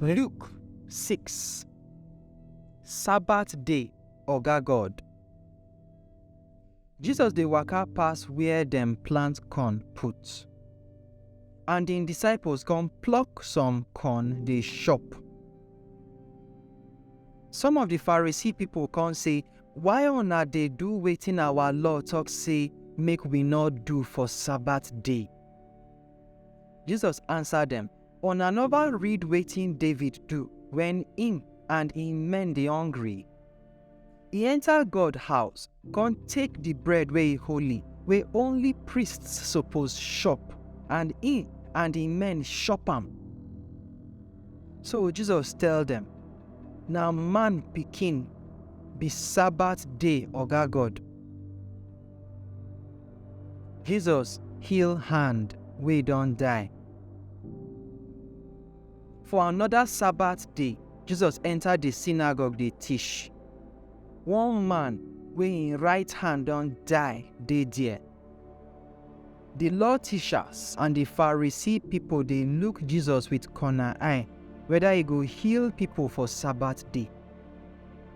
Luke 6 Sabbath day Oga God Jesus dey waka pass where dem plant corn put and im disciples come pluck some corn dey chop. Some of di Pharisee pipo kon sey, Why una dey do wetin awa law tok sey make wi nor do for Sabat day? Jesus ansa dem, Una nova read wetin David do wen im and im men dey hongry? E enter God house con take di bread wey e holy, wey only priests suppose chop, and e and im men chop am. So Jesus tell dem, Na man pikin be Sabbath day Oga God. Jesus heal hand wey don die. For anoda Sabbath day, Jesus enta di synagogue dey tish. One man wey im right hand don die dey there. Di law tishas and di Pharisee pipo dey look Jesus wit corna eye weda e go heal pipo for Sabbath day.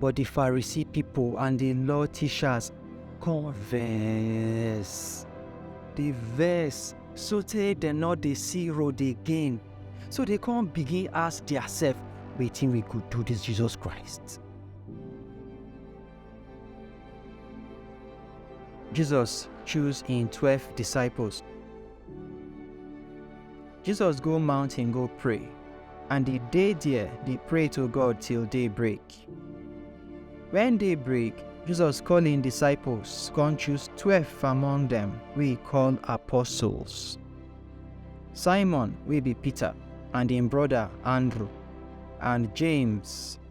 But the Pharisee people and the law teachers come vex. Dey vex sotey dem no dey see road again. So dey come begin ask theirself, wetin we go do this Jesus Christ? Jesus choose im twelve disciples Jesus go mountain go pray, and he dey there dey pray to God till day break. When day break, Jesus call him disciples, come choose twelve among them wey he call apostles. Simon wey be Peter, and him brother Andrew, and James,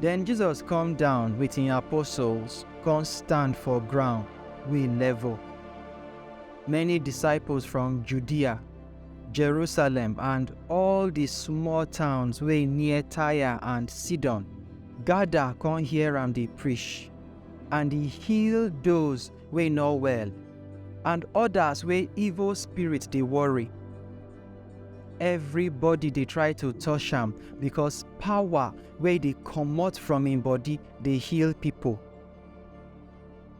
Den Jesus kom down with en apostles kon stand for groun wey level. Many disciples from Judea, Jerusalem and all di small towns wey near Tyre and Sidon gada kon hear am dey prish, and e heal doz wey nor well and odas wey evil spirit dey worry. everybody dey try to touch am because power wey dey comot from im body dey heal pipo.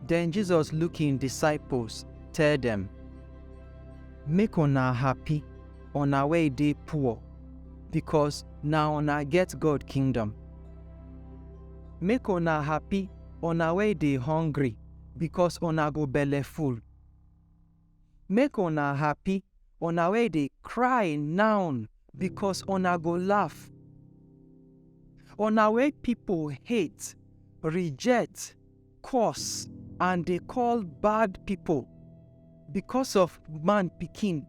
Den Jesus look im disciples, tell dem, Make una happy, una wey dey poor, because na una get God kingdom. Make una happy, una wey dey hungry, because una go belleful. Make una happy, una wey dey cry now, bikos una go laff. Una wey pipo hate, rijet, curse and dey call bad pipo bikos of Man Pikin,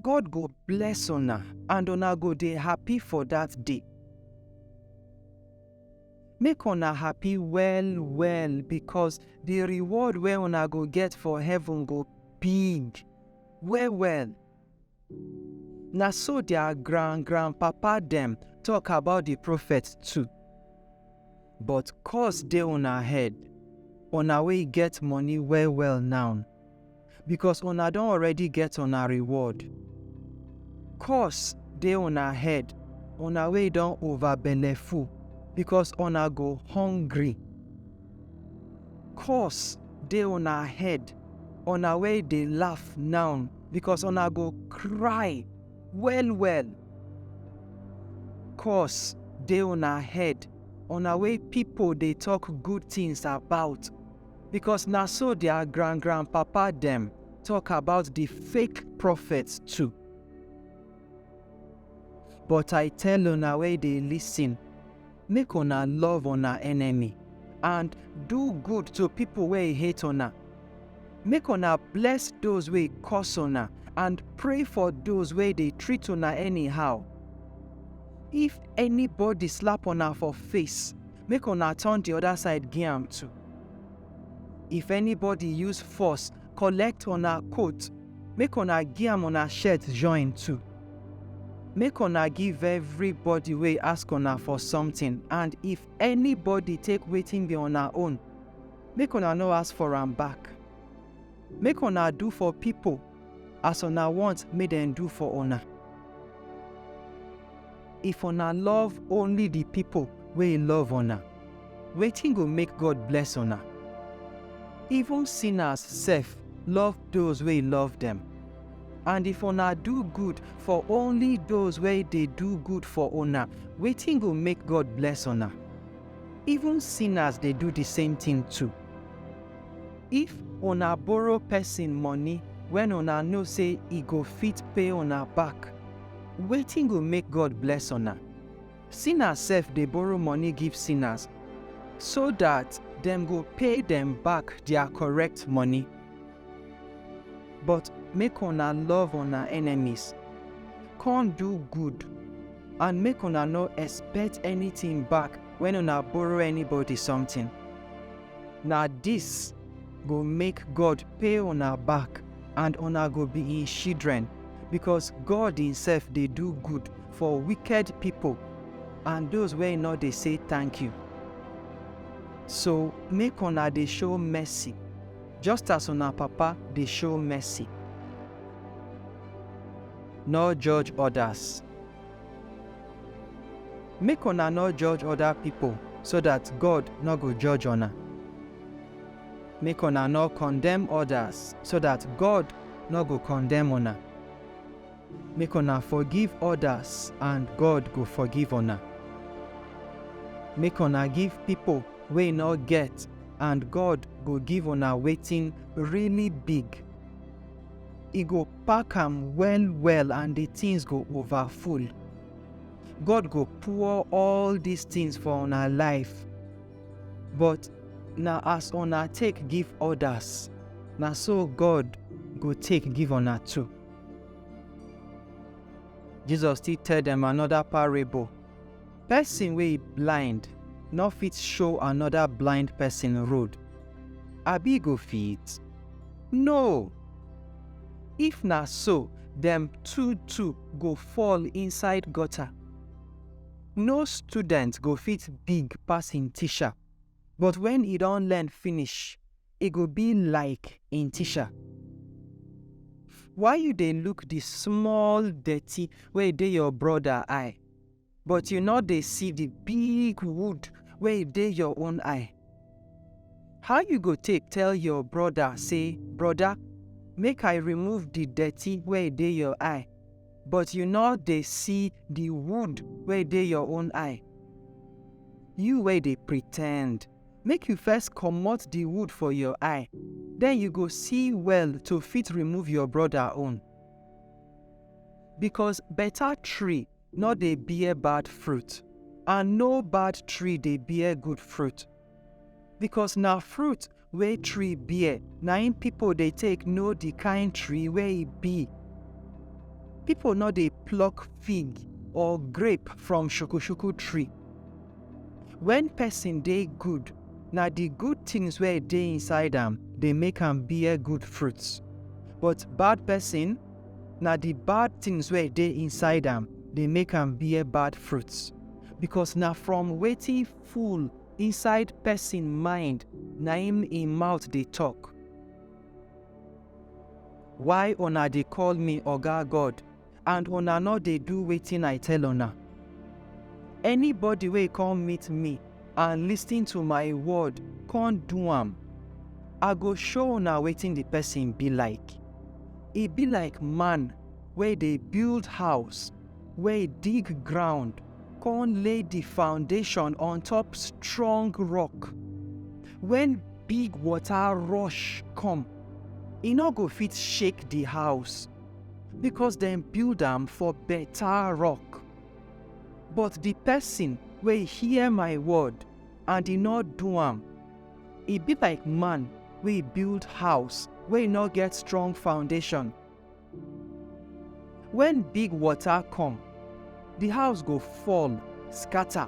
God go bless una and una go dey happy for dat day. Make una happy well well because the reward wey una go get for heaven go big well well. Na so their grand grandpapa dem talk about the prophet too. But curse dey una head, una wey get money well well now. because una don already get una reward. Curse dey una head, una wey don over belleful, because una go hungry. Curse dey una head, una wey dey laugh now, because una go cry well well. Curse dey una head, una wey pipo dey talk good things about, Because na so their grand grand papa dem talk about the fake prophets too. But I tell una wey dey listen, make una love una enemy and do good to people wey hate una. Make una bless those wey curse una and pray for those wey dey treat una anyhow. If anybody slap una for face, make una turn the other side give am too. If anybody use force collect una coat, make una give am una shirt join too. Make una give everybody wey ask una for something and if anybody take wetin be una own, make una no ask for am back. Make una do for people as una want make dem do for una. If una love only the people wey love una, wetin go make God bless una? Even sinners sef love those wey love dem. And if una do good for only those wey dey do good for una, wetin go make God bless una? Even sinners dey do the same thing too. If una borrow pesin money wen una know sey e go fit pay una back, wetin go make God bless una? Sinners sef dey borrow money give sinners, so dat dem go pay dem back dia correct money. But make una love una enemies, con do good, and make una no expect anytin back wen una borrow anybody sometin. Na dis go make God pay una back and una go be im shidren, bikos God imsef dey do gud for wiked pipol and doz wey nor dey sey tank-yu. So, make una dey show mercy, just as una Papa dey show mercy. Nor judge odas. Make una nor judge oda pipol, so dat God nor go judge una. Make una nor kondemn odas, so dat God nor go kondemn una. Make una forgiv odas and God go forgiv una. Make una give pipol wey nor get and God go give una wetin really big. e go pack am well well and the things go over full god go pour all these things for una life but na as una take give others na so god go take give una too jesus still tell them another parable Pesin wey e blind nor fit show anoda blind pesin road, abi e go fit? No! If na so, dem two-two go fall inside gutter. No student go fit big pass im tisha, but wen e don learn finish, e go bi laik im tisha. Why yu dey luk di small dirty wey dey yor broda eye, but you no dey see the big wood wey dey your own eye. How you go take tell your brother say, Brother, make I remove the dirty wey dey your eye, but you no dey see the wood wey dey your own eye? You wey dey pretend, make you first comot the wood for your eye, then you go see well to fit remove your brother own. Because better tree nor dey bear bad fruit, and no bad tree dey bear good fruit. Because na fruit wey tree bear na im pipo dey take know di kind tree wey e be. Pipo nor dey pluck fig or grape from shukushuku tree. Wen pesin dey good, na di good tins wey dey inside am dey make am bear good fruits, but bad pesin na the bad things wey dey inside am dey make am bear bad fruits because na from wetin full inside person mind na im im mouth dey talk why una dey call me oga god and una no dey do wetin i tell una anybody wey come meet me and listen to my word come do am, I go show una wetin the person be like. E be like man wey dey build house, wey dig ground, come lay the foundation on top strong rock. When big water rush come, e no go fit shake the house because dem build am for better rock. But di pesin wey e hear my word and e nor do am, e bi like man wey e build house wey e nor get strong foundashon. Wen big wota kom, di house go fall skata.